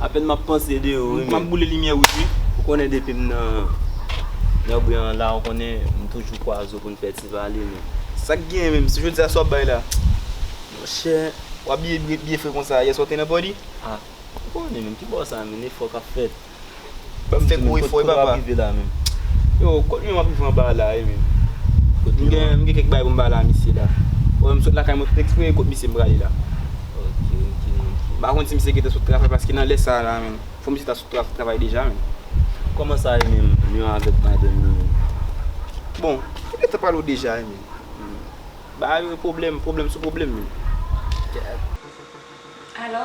Apèn map panse de yo wi men. Map boule limyè wout wi. Ou konnen depim nan Nègwè an la ou konnen m toujou kwa zo poun fè ti pale men. Sak genyen menm? Se jodi a sa wap bay la? Monchè ou abiye byen fre konsa, yè swa ou te nan body? Ah ou konnen menm ki bò sa menm efò kap fèt. Banm fè gwo efò wi papa. Yo kot mwen map rive anba la wi menm. M gen kèk bagay poum pale a misye la. Ou wèm sot lakay mwen tout eksprè e kot misye m prale la. M pa konn si misye gentan sot travay paske nan lè sa la menm fò misye ta sot travay deja menm. Koman sa ye menm yon avek madanm li menm. Bon yo gentan pale w deja wi menm. Bagay yo pwoblèm pwoblèm sou pwoblèm menm. Alò.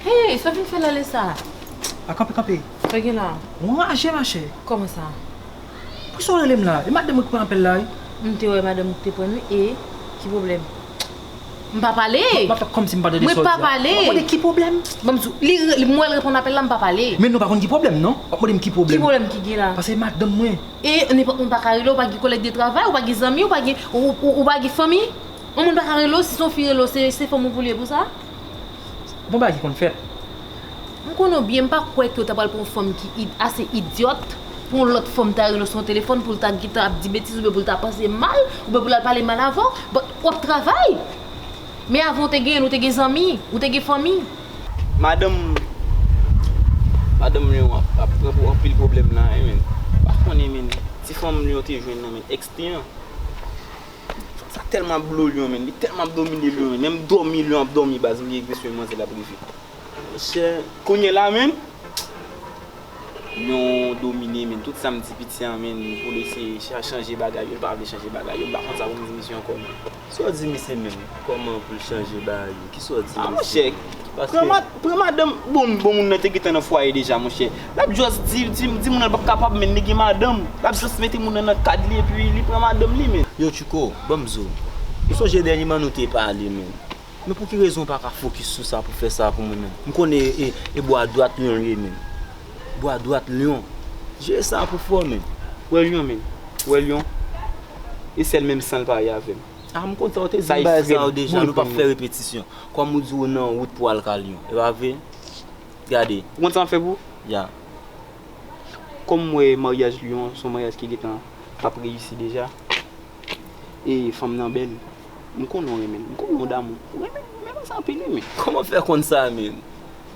Hey! Sa w vin fè la lè sa a? A kanpe kanpe. Sa gen la? Ou anraje ma chè? Kòman sa? Pou sa w rele m la? E madanm ou ki pran apèl la wi? M te wè madanm ou ki te pran l wi e ki pwoblèm? M pa pale. M ap kòmsi m pa tande sa w di a. Mwen pa pale. Wap mande ki pwoblèm? Banm di w. Li, m wè l reponn apèl la, m pa pale. Men nou pa konn ki pwoblèm non. Wap mande m ki pwoblèm. Ki pwoblèm ki gen la? Pase madanm mwen. E nenpòt moun pa ka rele w, w pa gen kolèg de travay, w pa gen zanmi, w pa gen, w pa gen fanmi? Yon moun pa ka rele w, si se yon fi rele w, se fanm ou vle pou sa? Bon bagay ki konn fèt. M konnen w byen, m pa kwè ke w ta pral pran yon fanm ki ase idyòt pou yon lòt fanm ta rele w sou yon telefòn pou l ta gentan ap di betiz oubyen pou l ta panse mal oubyen pou l al pale mal avè w. But, w ap travay! Men avan w te genyen l, ou te gen zanmi, ou te gen fanmi. Madanm Madanm Lion an ap pran pou anpil pwoblèm la a menn. M pa konnen menn, ti fanm Lion te jwenn nan men ex li an. Fanm sa tèlman ap blo Lion menn, li tèlman ap domine Lion menn, menm dòmi Lion ap dòmi baz li egri sou yon manzè l ap rive. Monchè kounye la menm Nou domine menn tout sam di piti an menn poul eseye chanje bagay yo pa vle chanje bagay yo mpa konn sa poum di misye ankò menm. Sa w di misye menm kòman pou l chanje bagay yo kisa w di misye menm. A monchè pran madanm bon moun nan te gentan nan fwaye deja monchè lap just di moun nan l pap kapab menn li gen madanm lap just mete moun nan nan kad li epi li pran madanm li menn. Yo tchouko banm diw ou sonje dènyeman nou te pale menm. Men pou ki rezon ou pa ka fokis sou sa pou fè sa pou mwen menm? M konnen e e bò adwat lyon l ye menm. Bò adwat lyon. Jere sa pou fò menm. Wè lyon menm. Wè lyon. E sèl menm san l pa ye avè m. A m kontan ou te di m bagay sa yo deja nou pap fè repetisyon. Kòm ou di ou nan wout pou al ka lyon. E pa vre? Gade. Ou konn sa m ap fè pou ou? Ya. Kòm m wè maryaj lyon s on maryaj ki gen tan pap reyisi deja. Eey fanm nan bèl m konnen w renmen l m konnen w damou l ou renmen l ou renmen sa anpil wi men. Kòman w fè konn sa menn?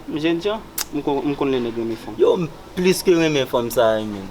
M jènjan m konn lè nèg renmen fanm. Yow m plis ke renmen fanm sa wi menn.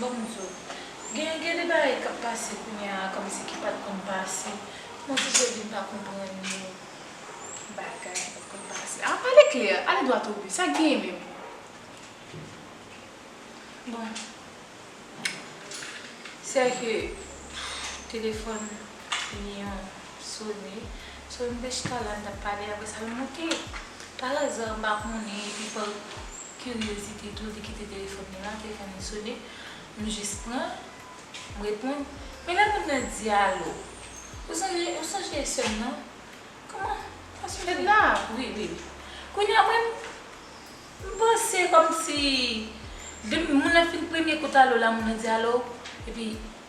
Bon m di w, gen gen de bagay k ap pase kounya a kòmsi ki pa t konn pase. Mwen oblije vin pa konprann yo. Bagay ki pa t konn pase. A pale klè, ale dwat o bi, sa k genyen menm? Bon, sè ke telefòn li yon. Sony, Sony te chita la n tap pale apre sa l monte. Par hasard m pa konnen epi par curiosité tou li kite telefòn li la, telefòn li sone, m jis pran, m reponn, men lè moun nan di alo, ou sonje, ou sonje sè m nan? Kòman, pa sonje? Fedna? Wi, wi. Kounye a mwen m panse kòmsi depi moun nan fin premye kout alo la moun nan di alo epi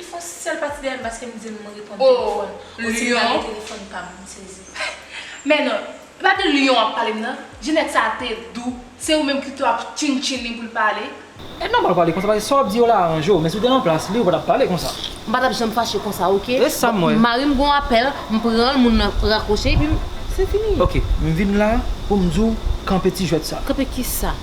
Li fon si sèl pati dèyèm paske m dil m reponn telefòn ou sim lage telefòn pam m sezi. Men non, e pa de Lion wap pale m nan, Jeanette sa te dou, se ou menm ki tou ap chintchin li pou l pale. E nòmal pale konsa paske sa wap di yo la aranje w men si w te nan plas li ou pa tap pale konsa. M pa tap janm fache konsa ok. E sam wè. Marim gon apèl m pran l moun nan rakwoche epi m se fini. Ok m vin la pou m di w kanpe ti jwèt sa. Kanpe kisa?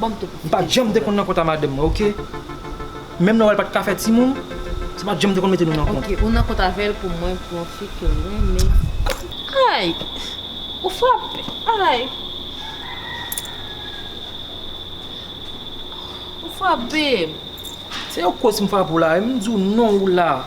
banm tout M pat janm te konn nan kont a madanm mwen ok Menm lè wè l pat ka fè timoun Se pat janm te konn mete nou nan kont Ok ou nan kont avèl pou mwen pou yon fi ke w renmen Ayy Ou frape Ayy Ou frape m. Se yo koz m frape w la M di w non ou la.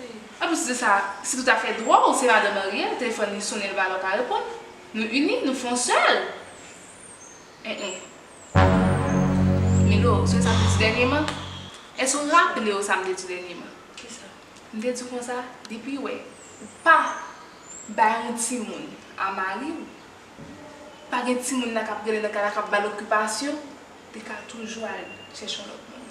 E pou ti de sa, se tout afè dwa w, se madan marye l, telefòn li sonnen l ba lè w pa reponn. Nou ini, nou fon sèl. En en. Milo, sonje sa m te di dènyeman? Èske ou raple w sa m te di dènyeman? Ki sa? M te di w konsa, depi wè ou pa bay yon timoun a mari w, pa gen timoun la k ap rele nan kay la k ap ba l okipasyon, li ka toujou al chèche yon lòt moun.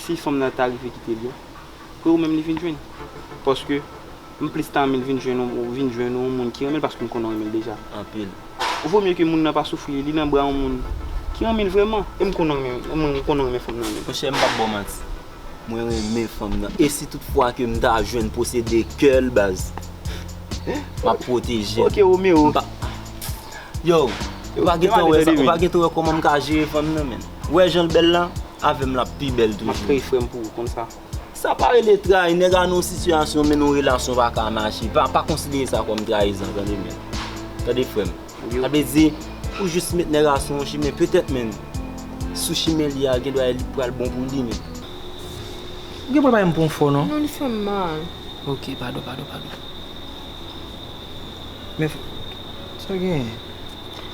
si fanm nan ta rive kite li a, kwe ou menm li vin jwenn. Paske, m plis ta renmen l vin jwenn yon, vin jwenn yon moun ki renmen l paske m konnen ou renmen l deja. Anpil. Ou vo mye ke moun nan pa soufri, li nan bra yon moun ki renmen l vrèman. E m konnen ou renmen, e mwen, m konnen ou renmen fanm nan anpil. Monchè, m pap ba w manti. Mwen renmen fanm nan. E si tout fwa ke m ta jwenn posede kè l baz, m ap pwoteje l. Ok Romero. M pa, yow, ou pa gen tan wè sa, ou pa gen tan wè kòman m ka jere fanm nan menn. Ou wè janl bèl la? Avèm lap pi bèl toujou. Map kreye frèm pou ou konn sa. Sa pa rele trayi nèg a nan yon sitiyasyon men yon relasyon pa ka mache pa konsidere sa kòm trayizan tande byen tande frèm sa vle di ou jis met nèg a sou yon chimen petèt menn sou chimen li a gen dwa li pral bon pou li menn ou gen pou bay m konfò non non li fèm mal ok padon padon padon men sa genyen.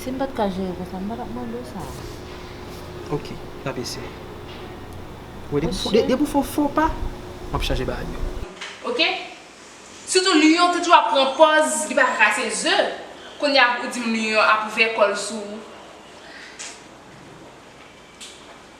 Si m pa t ka jere konsa, m pa t ap mande w sa. Ok, n ap eseye. Ou wè, depi ou fè yon fo pa, m ap chanje bagay yo. Ok? Sitou Lyon te toujou ap pran pòz li pa ka kase ze, kounye a ou di m Lyon ap ouvè kò l sou ou.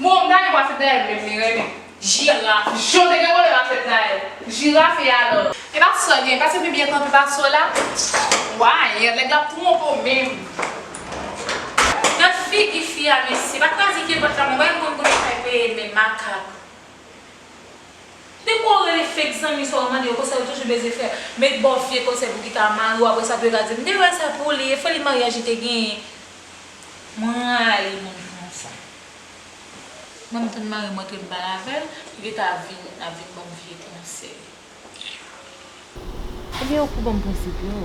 Bon m ta renmen wafet Naël menm li renmen jiraf jan w te gen vòlè wafet Naël jiraf e alò. Epa sò gen pase pi byen kanpe pa sò la wayy nèg la ap twonpe w menm. Gad figi fi a mesye pa krazike pot la mwen bay moun kote kay peye men makak de kouw rele fake zanmi sa ou mande yo konsa yo toujou beze frè met baw vye konsèy pou ki ka mariw apresa pou yo ka di mte wè sa pou li efoli maryaj li te genyen Mwen rayi moun ki konsa. Mwen m tann marim antre m pale avèl li ta vin ap vin banm vye konsèy. Ebyen ou pou banm prensip yo.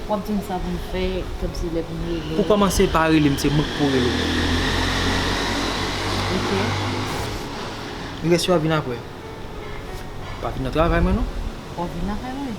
Wap dim sa pou m fè komsi lè pou m rele. Pou komanse pa rele m se mwen ki pou rele. Ok. Li resi wap vin aprè. Pa vin nan travay mwen non. Wap vin nan kay mwen.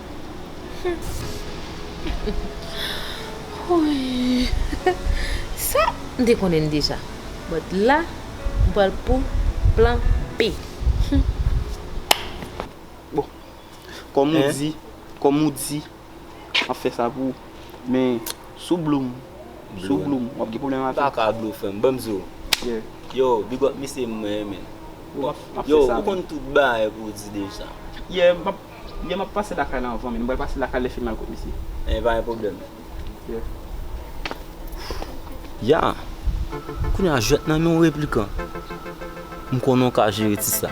Sa m te konnen l deja. But la, m pral pou plan B. Bon, kòm ou di, kòm ou di, m ap fè sa pou ou. Men, si w blow m, si w blow m, w ap gen pwoblèm avè m. M pa ka blow frèm, ban m di w. Yo, big up misye, mwen renmen l. Yo, ou konn tout bagay pou w di deja. Yeah, m ap. Yè map pase lakay la anvan min bal pase lakay lè fim al kot misye. Ebyen pa gen pwoblèm. Ya! Kounye a jwèt nan men yon replikan. M konnen w ka jere ti sa.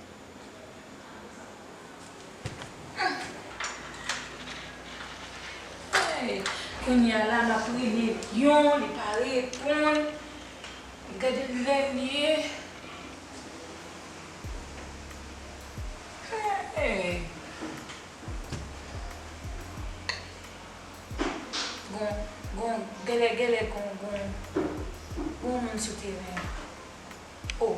Kounya la map rele Lion li pa reponn gade lèl ye Bon gèlè gèlè gon moun sou teren an oh.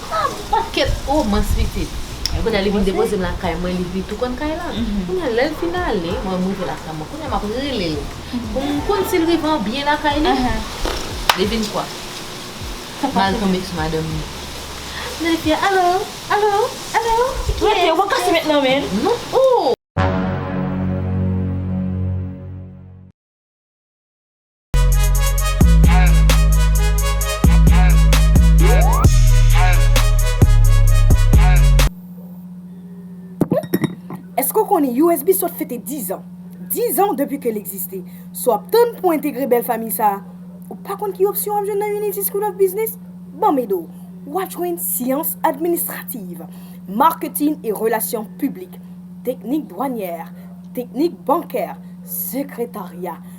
Ah m pat ket oh mans pitit. Kounye a li vin depoze m lakay mwen li vin tou konn kay la. Kounye a lè l fin ale mwen m rive lakay mwen kounye a m ap rele l pou m konn si l rive an byen lakay li Li vin kwa M al tonbe sou madanm li M tande fi a alo alo alo se kiyès Rete ou pa kase met nan men l Non oh. Eske w konnen usb sot fete 10 an? 10 an depi ke l egziste. Si w ap tann pou entegre bèl famiy sa a, ou pa konn ki opsyon w ap jwenn nan Unity School of Business? Banm ede w! Ou ap jwenn Syans Administrativ, Marketing et Relations Publiques, Teknik Dwanyè, Teknik Bankè, Sekretarya,